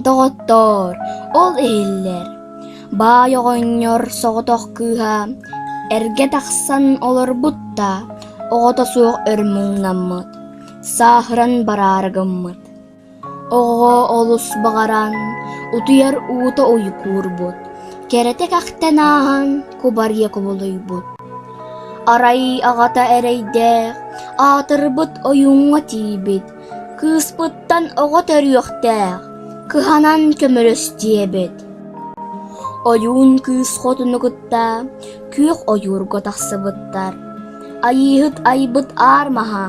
Доҕоттоор, ол иһиллэр. Баай оҕонньор соҕотох кыыһа эргэ тахсан олорбут да, оҕото суох өр муҥнаммыт, сааһыран бараары гыммыт. Оҕоҕо олус баҕаран, утуйар уута уйукуурбут, кэрэтик ахтан ааһан кубарыйа кубулуйбут. Арай аҕата эрэйдээх, аатырбыт ойууҥҥа тиийбит, кыыспыттан оҕо төрүөхтээх, кыһанан көмөлөстүөбэт Ойуун кыыс хотуну кытта күөх ойуурга тахсыбыттар. Айыыһыт айбыт аар маһа,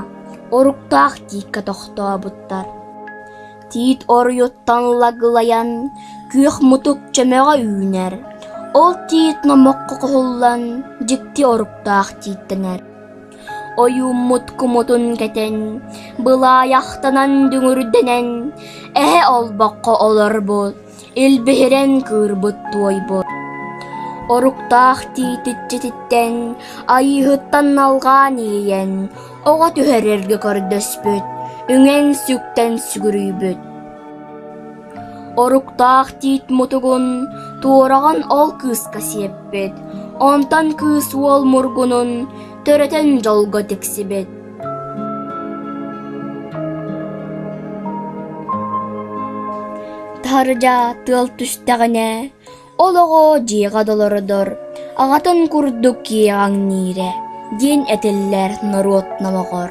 оруктаах тииккэ тохтообуттар тиит оройуоттан лагылайан, күөх мутук чөмөҕө үүнэр. Ол тиит номоххо куһуллан дьикти оруктаах тииттэнэр. Ойууммут кумутун кэтэн, былаайахтанан дүҥүрдэнэн, эһэ олбоххо олорбут Илбиһирэн кыырбыт туойбут Оруктаах тиитиччититтэн Айыыһыттан налҕаан иэйэн Оҕо түһэр эргэ көрдөспүт Үҥэн сүктэн сүгүрүйбүт Оруктаах тиит мутугун Туораҕын ол кыыска сиэппит Онтон кыыс уол мургунун Төрөтөн дьолго тиксибит Таһырдьа тыал түстэҕинэ, олоҕо дьиэҕэ долородор аҕатын курдук киэҕэҥ ниирэ диэн этиллэр норуот номоҕор.